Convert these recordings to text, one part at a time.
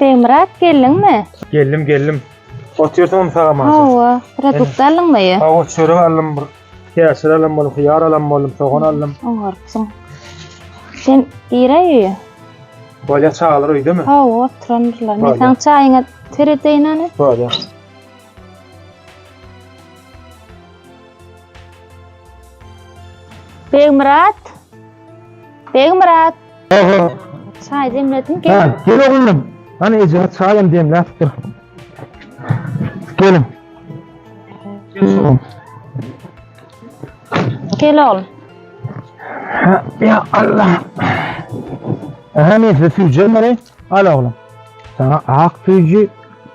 Begmyrat geldiňmi? Geldim, geldim. Oturdyň mı sağa maşa? Hawa, produkt aldyňmy? Hawa, çörek aldım, bir käşir aldım bolum, hıyar aldım bolum, soğan aldım. Oňarpsyň. Sen gire öýe. Bolya çagalar öýdemi? Hawa, oturandyrlar. Men Bolýa. saň çaýyňa seredeýin ana. Bolya. Begmyrat. Begmyrat. Aha. Çay demledim gel. Ha, gel oglum. Ana eje çaýam demläpdir. Gelin. Gel oglum. Ha, ya Allah. Aha neyse süyeceğim orayı. Al oğlum. Sana ak süyücü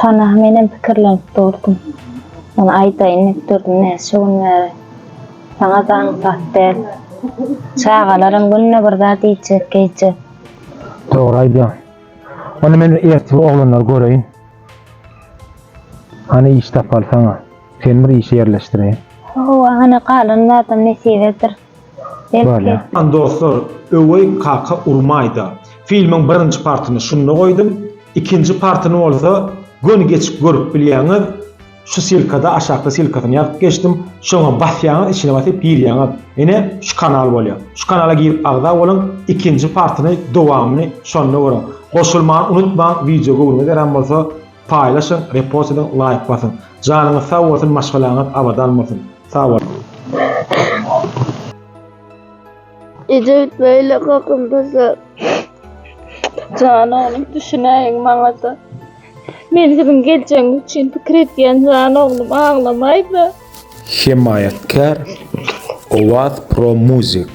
Şona menem pikirlenip durdum. Ony aýdaýyn diýip durdum näçe gün bäri. Saňa daň sap däl. Çagalaram günde bir zat iýjek, geýjek. Dogry aýdýaň. Onda men ertir oglanlary göreýin. Hany iş tapaly saňa. Seni bir işe ýerleşdireýin. Hawa, hany galan zadam nesibedir. Bolýa. Salam dostlar öweý kaka urmaýda filmiň birinji partyny şunda goýdum ikinji partyny bolsa göni geçip görüp bilýäňiz şu silkada aşakda silkasyny ýazyp geçdim şoňa basýaňyz içine basyp girýäňiz ine şu kanal bolýa şu kanala girip agza boluň ikinji partyny dowamyny şonda görüň goşulmany unutmaň wideo göwnüňiz ýaran bolsa Paýlaşyň, repost ediň, laýk basyň. Janyňyz sag bolsun maşgalaňyz abadan bolsun. Sag boluň. Ejewit beýle kakylda zat. Janoglum düşünäýiň maňada. Men siziň geljegiňiz üçin pikir edýän janoglum aglamaýda. Hemaýatkär Owaz Pro Music.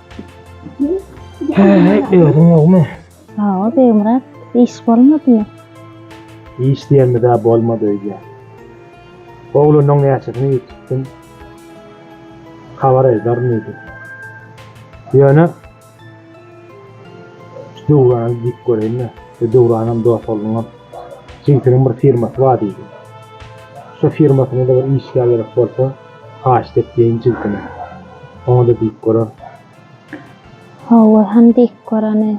Özüm ýogmy? Hawa, Begmyrat, iş bolmadymy? Iş diýenimiz-ä bolmady öýdýä. Oglunyň näçesini ýitipdim, habar aýdaryn diýdi. Ýöne şu Döwrany diýip göreýin-le, şu Döwranam dost ogluňam. Jigitiniň bir firmasy bar diýdi. Şu firmasyna-da bir işgär gerek bolsa, Haýyş depleýin jigdime. Oňa-da diýip görer. Hawa, han diýip göreni.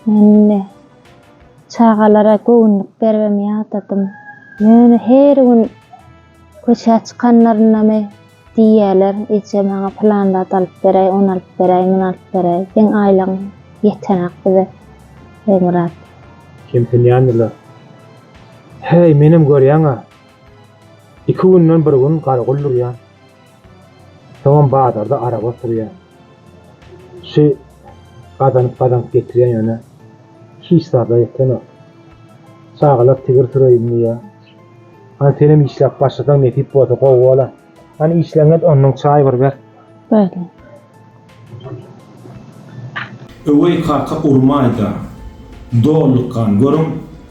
Men indi çagalara göwünlik beribem ýadadym. Ýöne her gün köçä çykanlaryndamy diýýärler, Eje, maňa pylan zat alyp beräý, ony alyp beräý, muny alyp beräý. Seň aýlygyň ýetenak bize, Begmyrat. Kemsinýändirler. Häý, menem görýäň-ä, Iki günden bir gün garagol durýar. Soňam bazarda araba oturýar. Kişi gazanyp-gazanyp getirýär ýöne hiç zada ýetenok. Çagalar tigir süreýin diýýär. Hany senem işläp başlasaň nesip bolsa gowy bolar. Hani işleňet ondan çay bir ber. Bäli. Öweý kaka urmaýda. Dollykgan görüň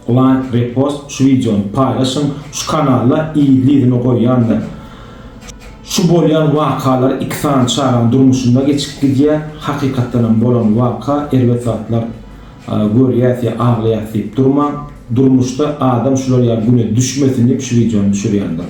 like repost şu wideony paýlaşyň şu kanala yzly yzyna goýýandyr. Şu bolýan wakalar iki sany çagaň durmuşynda geçip gidýär hakykatdanam bolan waka erbet zatlar görýäs ýa aglaýas diýip durmaň durmuşda adam şular ýaly güne düşmesin diýip şu wideony düşürýändir.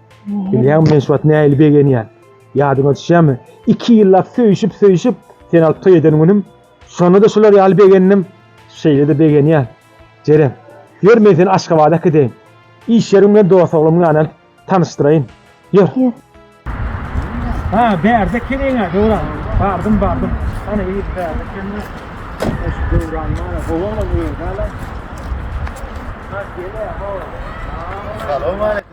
Bilýäňmi, men şu wagt nähili begenýän? Ýadyňa düşýärmi? Iki ýyllap söýşüp-söýşüp, seni alyp toý eden günüm, şonda-da şular ýaly begendim, şeýle-de begenýän. Jeren, ýör men seni Aşgabada äkideýin. Iş ýerim bilen dost oglumyň ýanyna alyp tanyşdyraýyn. Ýör. Ha, bärde ekeniň-ä, Döwran. Bardym, bardym. Hany, ýeri bärde ekeni. Şu Döwran ýaly gowaňam öýdäl-ä. Salam aleýkum.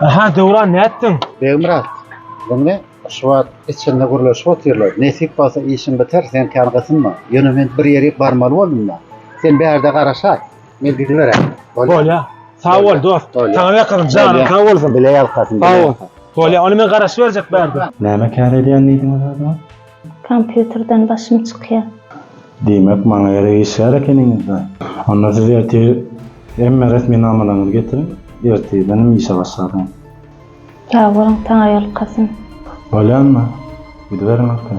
Aha Döwran nätdiň? Begmyrat, muny şu wagt içinde gürleşip otyrlar. Nesip bolsa işiň biter, sen kän gysynma. Ýöne men bir ýerik barmaly boldum-da. Sen bärde garaşa, men gidiberän. Bolýa. Sag bol dost. Saňa ýakasyn, janyň sag bolsun. Bile ýalkasyn. Sag bol. Bolýa, ony men garaşyberjek bärde. Näme kär edýän diýdiň o zada? Kompýuterden başym çykýar. Diýmek, maňa gerek işgär ekeniňiz-dä? Onda siz ertir hemme resminamalaryňyzy getiriň, ertirden hem işe başladyň. Ýalbaryň, taňaýolukasyn. Bolýanmy? Gidiberiň aka.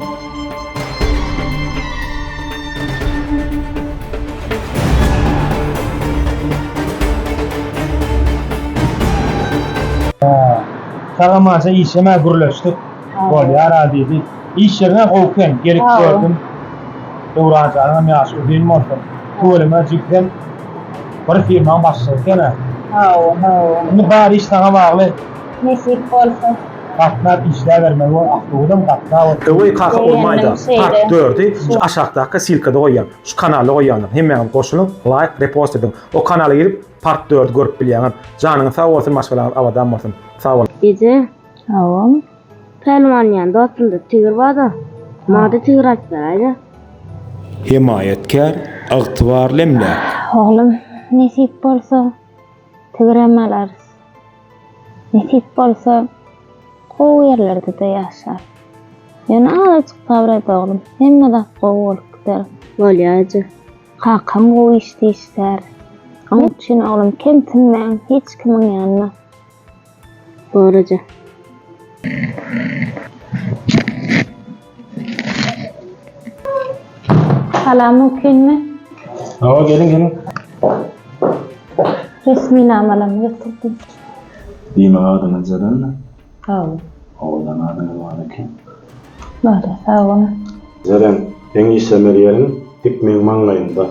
Sagam aşa işemä gürleşdik. Bolýara diýdi. Iş ýeriňe gowy eken, gelip gördüm. Döwran janyňam ýaşy uzyn bolsun. Tüweleme jigsem bir firmaň başlygy ekena. Hawa, hawa. Indi bar iş saňa bagly. Nesip bolsa. Gatnap işläbermeli bol, awtobusam gatnap otyr. Öweý kaka urmaýda part dördi şu aşakdaky silkada goýýan şu kanala goýýanlar hemmäňiz goşulyň laýk repost ediň o kanala girip part dördi görüp bilýäňiz janyňyz sag bolsun maşgalaňyz abadan bolsun sag boluň. Gije Hawa. Pälwan jan dostumda tigir barda maňada tigir aýyp beraýda. Hemaýatkär ygtybarly emläk. Oglum nesip bolsa tigirem alarys. Nesip bolsa gowy ýerlerdede ýaşar. Ýöne azajyk sabyr et oglum hemme zat gowy bolup gider. Bolýar eje. Kakam gowy işde işlär. Oň üçin oglum kemsinmäň hiç kimiň ýanyna. Goraja. Salam mümkinmi? Hawa geliň geliň. Resminamalarmy getirdiň? Diýmek adyňyz Jalanmy? Hawa. Owadan adyňyz bar eken. Bada sag boluň. Jeren, seň işlemer ýeriň dik meň maňlaýymda.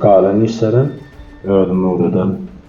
Galan işlerem özüm öwrederin.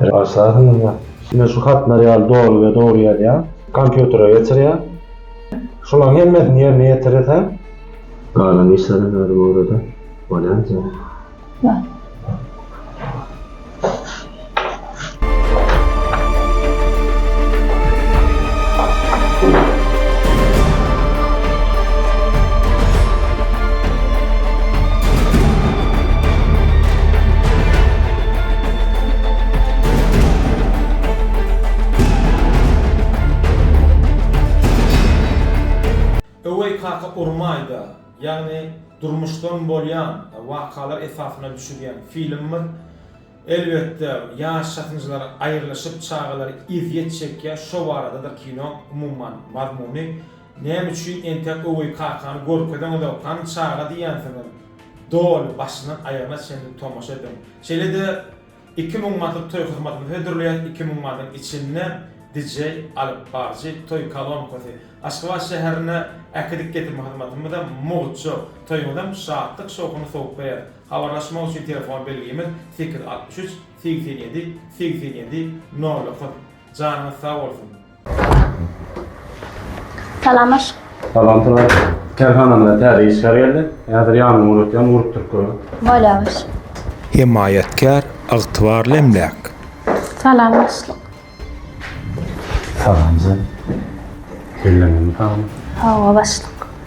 Başarsaň indi. Men şu hatlar ýaly doly we dogry ýazýan. Kompýutere geçirýän. Şulaň hemmesini ýerine ýetireseň. Galan işlerem özi görede bolýanjak. Bar. Öweý kaka urmaýda ýagny durmuşdan bolýan wakalar esasyna düşülýän filmdir. Elbetde ýaş çatynjylar aýrylyşyp çagalar ezýet çekýär şo baradadyr kino umuman mazmuny. Näme üçin entek Öweý kakany görkezeňizow hany çaga diýýänsiňiz. Doly başyndan aýagyna çenli tomaşa ediň. Şeýle-de iki müň manatlyk toý hyzmatyny hödürleýän iki müň manatyň içinde DJ, alyp barjy, toý kolonkasy, Aşgabat şäherine äkidip getirme hyzmatymyzam mugt-şu. Toýuňyzam şatlyk-şowhuny sowuklaýar. Habarlaşmak üçin telefon belgimiz sekiz altmyş üç segsen ýedi segsen ýedi nol dokuz. Janyňyz sag bolsun. Salam aşk. Salam salam. Kerhanamda täze işgär geldi. Häzir ýanyny ugratyam urup turup görün. Bolýa aşk. Hemaýatkär, ygtybarly emläk. Salam başlyk. Salam sen. Belleňiz mi salam? Hawa başlyk.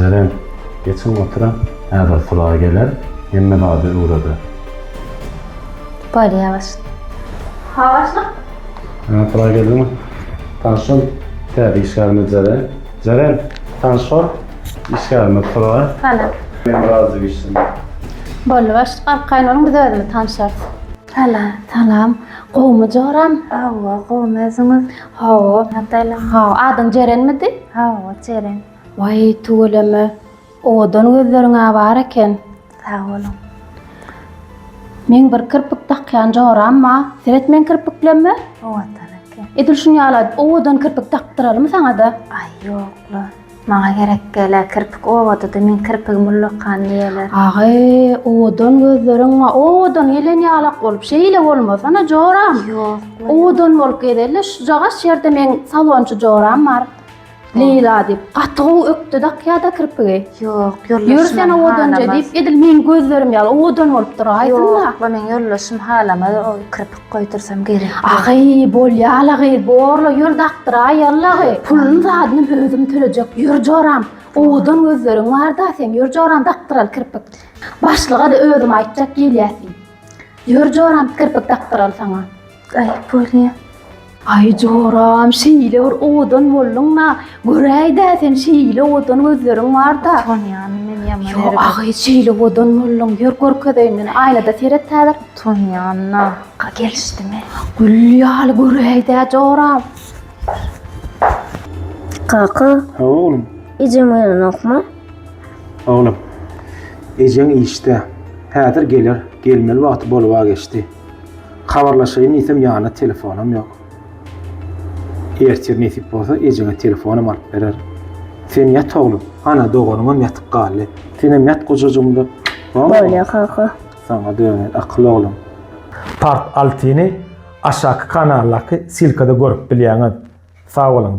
Jeren, geçiň oturyň, häzir Suraý geler, hemme zady öwreder. Bolýa başlyk. Ha başlyk. Hä, Suraý geldiňmi? Tanyş bol, täze işgärimiz Jeren. Jeren, tanyş bol, Işgärime pula. Hana. Men razy gitsin. Boldy başlyk galyp gaýnuluň biz özümiz tanşarys. Hana. Salam. Gowumy joram? Hawa gowy özüňiz? Hawa. Nataýla. Hawa adyň Jerenmidi? Hawa Jeren. Waý tüweleme owadan gözleriňä bar eken. Sag boluň. Meň bir kirpik dakýan joram bar. Seret meň kirpiklemme. Owadan eken. Edil şuny ýaly owadan kirpik dakdyralymy saňada? Aý ýokla. Maňa gerek dälä kirpik owadydy men kirpigim ullakan diýeler. Agy owadan gözleriň maňa owadan gelen ýalak bolup şeýle bolmasana joram. Ýok. Owadan bolup gezelle şujagaş ýerde meň salonçy joram bar. Leýla diýip gaty gowy ökde dakýada kirpigi. Ýok ýoldaşym. Ýör sen owadanja diýip edil meň gözlerim ýaly owadan bolup duraýsynda. Ýok bu meň ýoldaşym halamaz o kirpik. Goýdursam gerek. Agy, bolýa alagy, borla ýör dakdyraý allagy. Puluny zadyny özüm tölejek. Ýör joram. Owadan gözleriň bar-da seň, ýör joram dakdyral kirpik. Başlyga-da özüm aýtjak gelýäsmi. Ýör joram kirpik dakdyral saňa. Aý, bolýa. Aý joram şeýle bir owadan bolduňda, göräýdä sen şeýle owadan gözleriň barda. Tanýan men ýaman Ýo ergen. agy şeýle owadan bolduň, ýör görkezeýin men, aýnada seret häzir. Tanýan na, ka gelişdimi? Gül ýaly göräýdä joram. Kaka, Ha oglum, ejem oýanokmy? oglum. Ejeň işde. Häzir geler, gelmeli wagty boluba geçdi. Habarlaşaýyn diýsem ýanynda telefonam ýok. Ertir nesip bolsa ejeňe telefonam alyp bererin. Sen ýat oglum, ana doganyňam ýatyp galdy. Senem ýat gojajygymda. Bolýa kaka. Saňa döner akyl oglum. Part altyny aşaky kanaldaky silkada görüp bilýäňiz. Sag boluň.